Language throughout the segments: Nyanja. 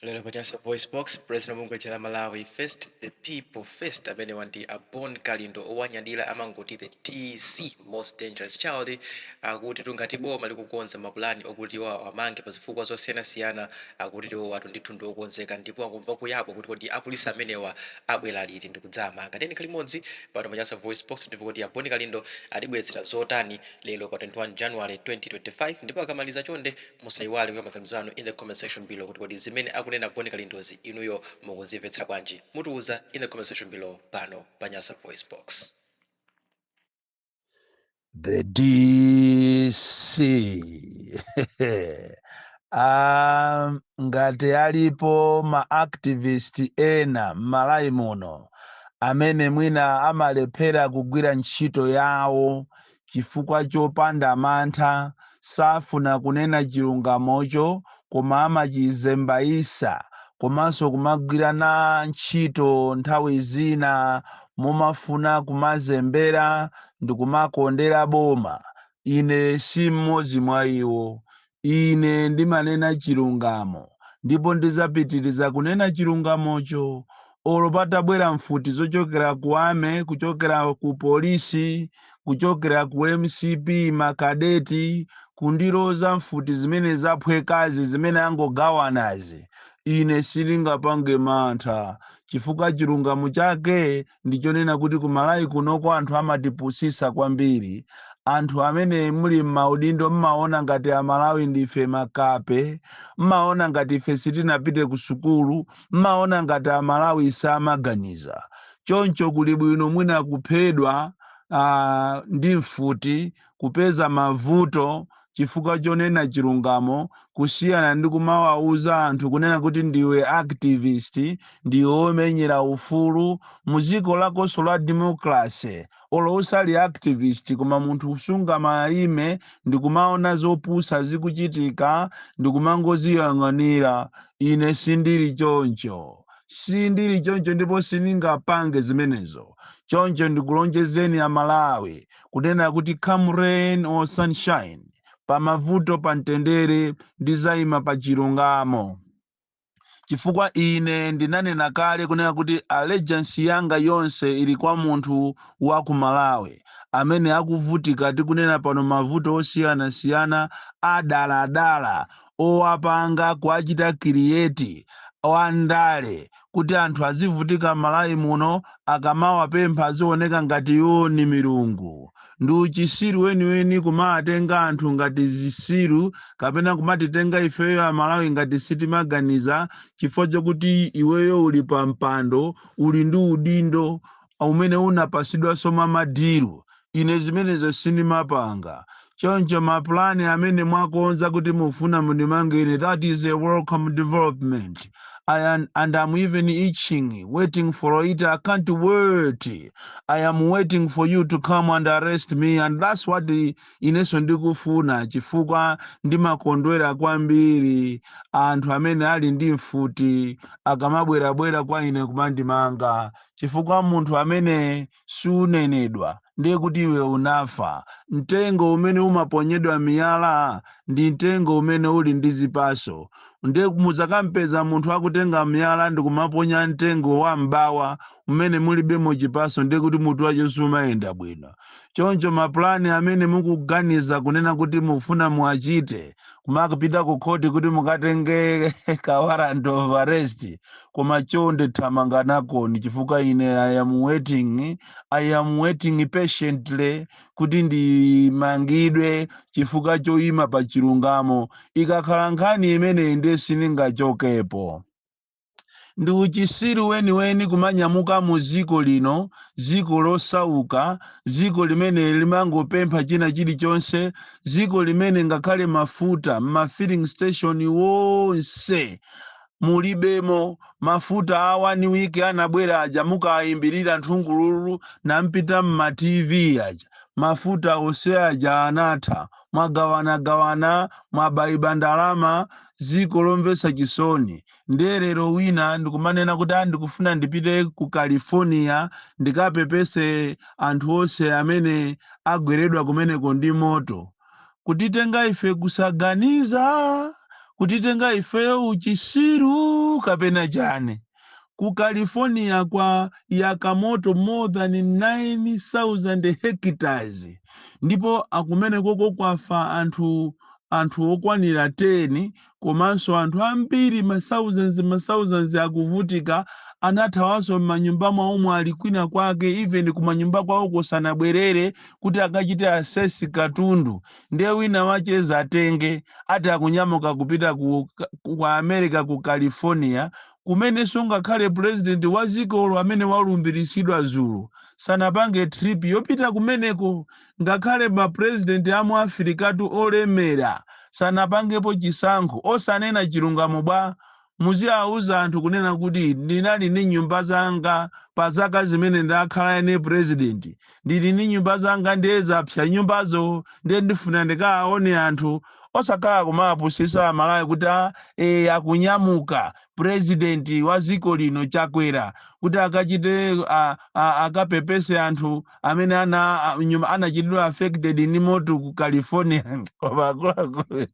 Lero pa Nyasa VoiceBox, president wa bungwe lija la Malawi First The People First amenewa ndi a Bon Kalindo owanyadira amangoti the DC most dangerous child akutitu ngati boma likukonza mapulani okuti iwo awamange pa zifukwa zosiyanasiyana akutitu iwowatu ndithu ndi okonzeka ndipo akumva kuyabwa kuti kodi apolisi amenewa abwera liti ndi kudzawamanga. Tiyeni khalani limodzi pano pa Nyasa VoiceBox timve kuti a Bon Kalindo atibweretsera zotani lero pa 21 January 2025 ndipo akamaliza chonde Musaiwale kuika maganizo anu in the comment section below kuti kodi zimene akunena a Bon Kalindozi inuyo mukuzimvetsa bwanji? Mutiuza in the comment section below pano pa Nyasa Voice Box. The DC ngati alipo ma activist ena m'Malawi muno amene mwina amalephera kugwira ntchito yawo chifukwa chopanda mantha safuna kunena chilungamocho koma amachizembaisa komanso kumagwirana ntchito nthawi zina mumafuna kumazembera ndikumakondera boma ine si mmodzi mwa iwo Ine ndimanena chilungamo, ndipo ndizapitiriza kunena chilungamocho, olo patabwera mfuti zochokera ku Army, kuchokera ku Polisi, kuchokera ku mcp, makadeti, kundiloza mfuti zimene zaphwekazi, zimene angogawanazi. Ine sindingapange mantha, chifukwa chilungamo chake ndi chonena kuti ku malawi kunoko anthu amatipusisa kwambiri anthu amene muli m'maudindo mmaona ngati amalawi ndife makape mmaona ngati ife sitinapite ku sukulu mmaona ngati amalawi samaganiza choncho kuli bwino mwina kuphedwa uh, ndi mfuti kupeza mavuto chifukwa chonena chilungamo kusiyana ndi kumawauza anthu kunena kuti ndiwe activist ndiwe omenyera ufulu mu dziko lakonso la democracy olo usali activist koma munthu sungamayime ndikumaona zopusa zikuchitika ndikumangoziyang'anira ine sindili choncho sindili choncho ndipo sindingapange zimenezo choncho ndikulonjezeni amalawi kunena kuti come rain or sunshine pa mavuto pa mtendere ndizayima pa chilungamo chifukwa ine ndinanena kale kunena kuti allegiance yanga yonse ili kwa munthu wa ku malawi amene akuvutika tikunena pano mavuto osiyanasiyana adaladala owapanga kuachita create wandale kuti anthu azivutika m'malawi muno akamawapempha azioneka ngati iwo ni milungu ndi uchisiru weniweni kumawatenga anthu ngati zisiru kapena kumatitenga ifeyo amalawi ngati sitimaganiza chifukwa chokuti iweyo uli pa mpando uli ndi udindo umene unapasidwanso mwa madiru Ine zimenezo sindimapanga. Choncho mapulani amene mwakonza kuti mufuna mundimange ine, that is a welcome development. and I'm even itching, waiting for it. I can't wait. I am waiting for you to come and arrest me and that's what inenso ndikufuna chifukwa ndimakondwera kwambiri anthu amene ali ndi mfuti akamabwerabwera kwa ine kumandimanga chifukwa munthu amene sunenedwa, ndiye kuti iwe unafa. Mtengo umene umaponyedwa miyala ndi mtengo umene uli ndi zipaso. Ndiye mudzakampeza munthu akutenga miyala ndi kumaponya mtengo wa m'bawa umene mulibemo chipaso, ndiye kuti mutu wace sumayenda bwino. Choncho mapulani amene mukuganiza kunena kuti mufuna muwachite, kumakapita ku khoti kuti mukatenge ka warrant of arrest koma chonde thamanganakoni chifukwa ine i am waiting i am waiting patiently kuti ndimangidwe chifukwa choyima pa chilungamo ikakhala nkhani imeneyi ndiye sindingachokepo Ndi uchisiru weniweni kumanyamuka mu dziko lino, dziko losauka, dziko limene limangopempha china chilichonse, dziko limene ngakhale mafuta m'ma filling station wonse mulibemo, mafuta a one week anabwera aja mukaayimbirira nthungululu nampita m'ma TV aja, mafuta onse aja anatha, mwagawanagawana, mwabaiba ndalama, dziko lomvetsa chisoni. ndiye lero wina ndikumanena kuti "Ah, ndikufuna ndipite ku california ndikapepese anthu onse amene agweredwa kumeneko ndi moto kutitenga ife kusaganiza kutitenga ifeyo uchisiru kapena chani ku california kwayaka moto more than 9000 hectares ndipo kumenekoko kwafa anthu okwanira 10 komanso anthu ambiri ma thousands ma thousands akuvutika anathawanso m'manyumba mwawomo ali kwina kwake even kumanyumba kwawoko sanabwerere kuti akachite assess katundu ndiye wina wacheza atenge ati akunyamuka kupita ku america ku california kumenenso ngakhale president wa dzikolo amene walumbiritsidwa dzulo sanapange trip yopita kumeneko ngakhale ma president amu afirikatu olemera sanapangepo chisankho osanena chilungamo bwa? muziauza anthu kunena kuti ndinali ndi nyumba zanga pa zaka zimene ndakhala ine president ndili ndi nyumba zanga ndiye zapsa nyumbazo ndiye ndifuna ndikaaone anthu osakhala kumapusisa amalawi kuti a e, akunyamuka president wa dziko lino chakwera kuti akachite a, a, akapepese anthu amene ana a- nyumba anachitidwa affected ndi moto ku california koma akuluakulu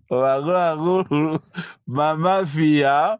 koma akuluakulu mamafiya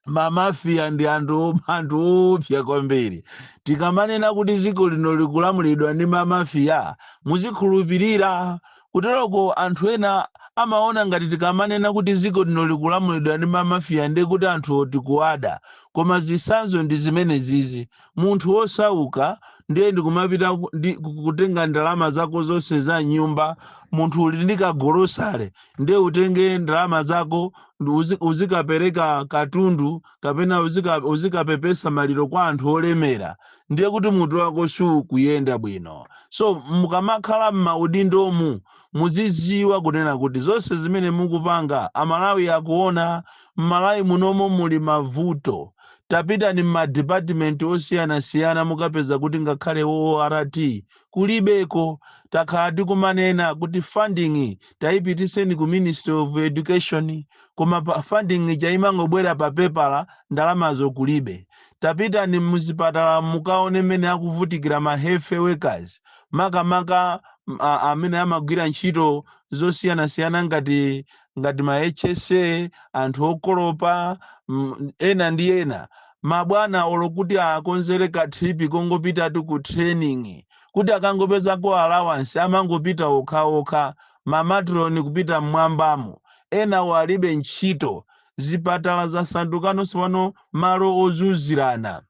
mamafiya ndi anthu anthu oopsa kwambiri tikamanena kuti dziko lino likulamulidwa ndi mamafiya muzikhulupirira Kuteroko anthu ena amaona ngati tikamanena kuti dziko lino likulamulidwa ndi ma Mafia ndiye kuti anthuwo tikuwada. Koma zitsanzo ndi zimenezizi. Munthu wosauka ndiye ndi kumapita ndi kutenga ndalama zako zonse za m'nyumba, munthu uli ndi ka golosale ndiye utenge ndalama zako ndi uzi- uzikapereka katundu kapena uzika- uzikapepesa maliro kwa anthu olemera. ndiye kuti mutu wako sukuyenda bwino so mukamakhala m'maudindomu muziziwa kunena kuti zonse zimene mukupanga amalawi akuona m'malawi munomo muli mavuto tapitani m'madipatimenti osiyanasiyana mukapeza kuti ngakhale ort kulibeko takhala tikumanena kuti funding tayipitiseni ku ministry of education koma pa funding ija imangobwera pa pepala ndalamazo kulibe tapitani muzipatala mukaone mmene akuvutikira ma health workers makamaka m- a- amene amagwira ntchito zosiyanasiyana ngati ngati ma hsa anthu okolopa mm, ena ndi ena mabwana olo kuti akonzere ka trip kongopitatu ku training kuti akangopezako allowance amangopita okhaokha mamatroni kupita mmwambamo enawo alibe ntchito zipatala zasandukano tsopano malo ozunzirana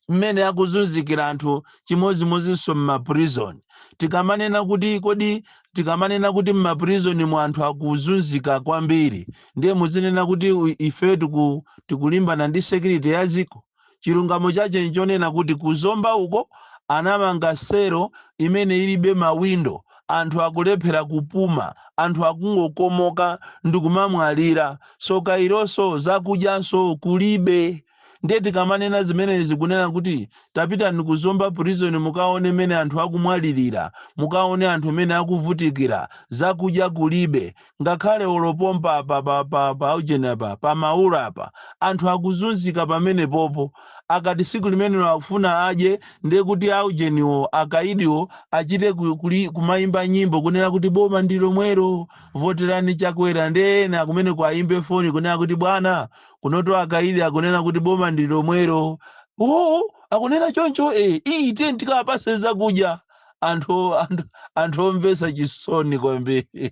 mmene akuzunzikira anthu chimodzimodzinso m'maprison tikamanena kuti kodi tikamanena kuti m'maprison mu anthu akuzunzika kwambiri ndiye muzinena kuti u- ife tiku, tikulimbana ndi security ya dziko Chilungamo chache nchonena kuti ku Zomba uko anamanga selo imene ilibe mawindo, anthu akulephera kupuma, anthu akungokomoka ndikumamwalira, tsoka ilonso zakudyanso kulibe. Ndiye tikamanena zimenezi kunena kuti tapitani ku Zomba prison mukaone mmene anthu akumwalilira, mukaone anthu mmene akuvutikira, zakudya kulibe, ngakhale olo pompa apa pa pa pa ujeni apa pa maula apa anthu akuzunzika pamene popo akati siku limenelo akufuna adye ndiye kuti aujeniwo akaidiwo achite ku- kuli- kumayimba nyimbo kunena kuti boma ndi lomwero voterani chakwera ndi ena kumene kwayimbe foni kunena kuti bwana kunoto akaidi akunena kuti boma ndi lomwero oo akunena choncho e iyi tiyeni tikawapase zakudya anthu anthu anthu omvesa chisoni kwambiri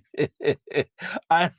An-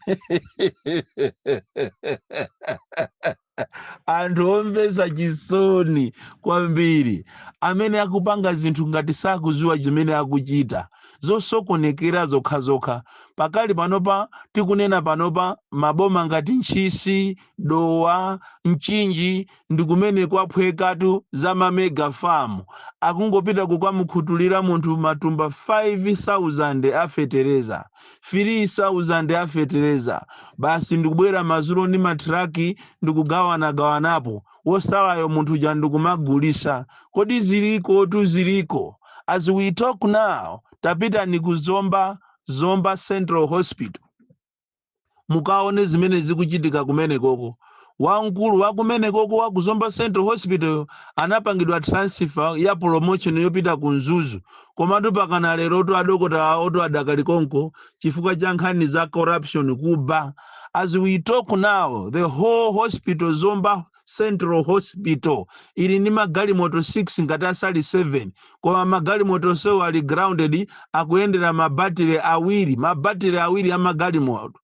anthu omvesa chisoni kwambiri amene akupanga zinthu ngati sakuziwa chimene akuchita zosokonekera zokhazokha pakali panopa tikunena panopa maboma ngati ntchisi dowa mchinji ndi kumene kwaphwekatu za ma mega farm akungopita kukamukhutulira munthu matumba 5000 a fetereza 3000 a fetereza basi ndikubwera madzulo ndi matraki ndikugawanagawanapo wosalayo munthu uja ndikumagulisa komatu zilikotu ziliko as we talk now tapitani ku zomba zomba central hospital mukaone zimene zikuchitika kumenekoko wamkulu wa kumenekoko wa ku zomba central hospital anapangidwa transfer ya promotion yopita ku mzuzu komatu pakana lero to adokotala awoto adakali konko chifukwa cha nkhani za corruption kuba as we talk now the whole hospital zomba Central Hospital ili ndi magalimoto 6 ngati asali 7 koma magalimoto onsewo ali grounded akuyendera mabatire awiri mabatire awiri a magalimoto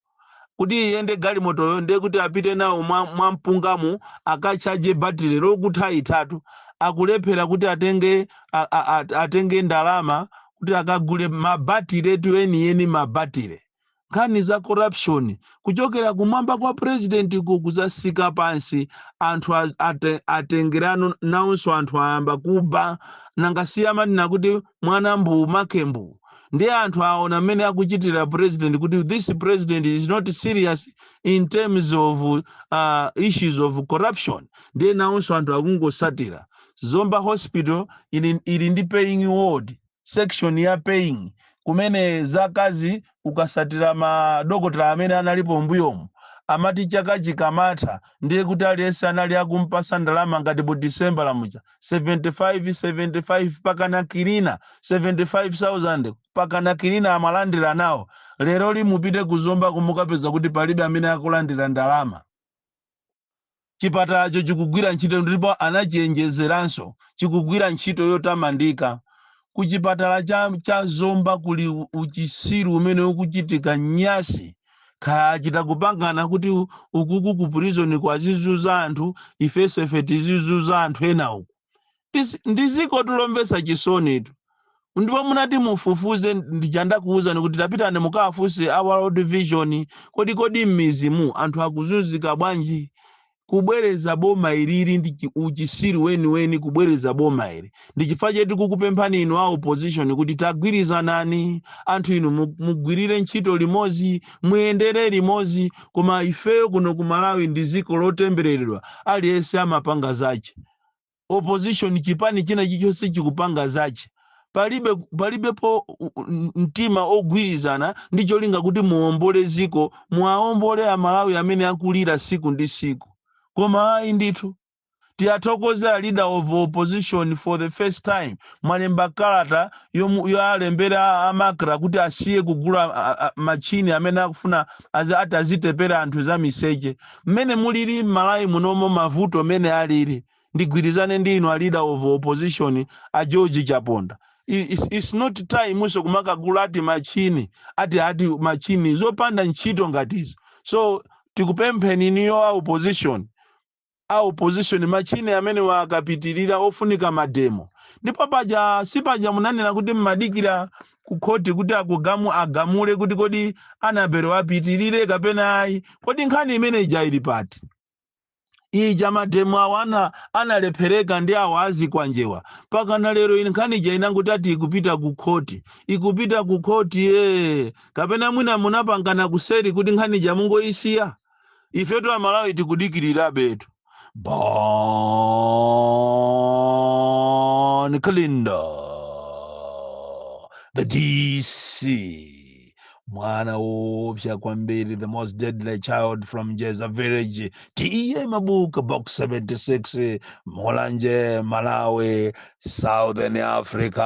kuti iyende galimotoyo ndiye kuti apite nawo mwa, mwa mpungamo akatchaje batire lokutha ithatu akulephera kuti atenge a, a, a, atenge ndalama kuti akagule mabatiretu enieni mabatire nkhani za corruption kuchokera kumwamba kwa president ku kuzatsika pansi anthu a- ate- atengerano nawonso anthu ayamba kuba nanga si amanena kuti mwana mbuu make mbuu ndiye anthu aona mmene akuchitira president kuti this president is not serious in terms of uh, issues of corruption ndiye nawonso anthu akungosatira zomba hospital ili, ili ndi paying ward section ya paying kumene zaka izi ukasatira madokotala amene analipo mbuyomu amati chaka chikamatha ndiye kuti aliyense anali akumpasa ndalama ngati mu december amalandira 75 75 pakana cleaner 75000 pakana cleaner amalandira nawo leroli mupite ku zomba ko mukapeza kuti palibe amene akulandira ndalama Chipatalacho chikugwira ntchito ndipo anachiyenjezeranso, chikugwira ntchito yotamandika. Ku chipatala cha, cha Zomba kuli u- uchisiru umene ukuchitika nyasi. Kaya achita kupangana kuti u- ukuku ku prison akuwazuza anthu, ifenso ife tizizuza anthu ena uku. Tis- ndi ziko tu lomvetsa chisonitu ndipo munati mutafufuze ndi cha ndakuwuzani kuti tapitani mukawafunse a world vision kodi kodi m'midzimu anthu akuzunzika bwanji kubwereza boma ili ndi chi- uchisiru weniweni kubwereza boma ili ndi chifukwa chetu kukupemphani inu a opposition kuti tagwirizanani anthu inu mu- mugwirire ntchito limodzi muyendere limodzi koma ifeyo kuno ku malawi ndi ziko lotembereredwa aliyense amapanga zache opposition chipani china chichonse chikupanga zache palibe palibepo u- u- n- mtima ogwirizana ndi cholinga kuti muombole ziko muwaombole amalawi amene akulira siku ndi siku koma ayi ndithu tiyathokoze a leader of opposition for the first time mwalemba kalata yomu- yoalembera a- a macra kuti asiye kugula a- a- machini amene akufuna azi- ati azitepera anthu za miseche mmene mulili m'malawi munomo mavuto mmene alili ndigwirizane ndi inu a leader of opposition a george chaponda I- it's, it's not time nso kumakagula ati machini ati ati machini zopanda ntchito ngatizo so tikupempheni inuyo a opposition a opposition machini amenewa akapitirira pofunika mademo ndipo paja si paja munanena kuti mmadikira ku khoti kuti akugamu agamule kuti kodi anabele apitirire kapena ayi kodi nkhani imene ija ili pati ija mademo aja ana analephereka ndi awo a zikwanjewa pakana lero ine nkhani ija inangoti ati ikupita ku khoti ikupita ku khoti ee kapena mwina munapangana kuseri kuti nkhani ija mungoyisiya ifetu amalawi tikudikirirabetu bon kalindo the dc mwana woopsa kwambiri the most deadly child from jeza village ta mabuka box 76 mulanje malawi southern africa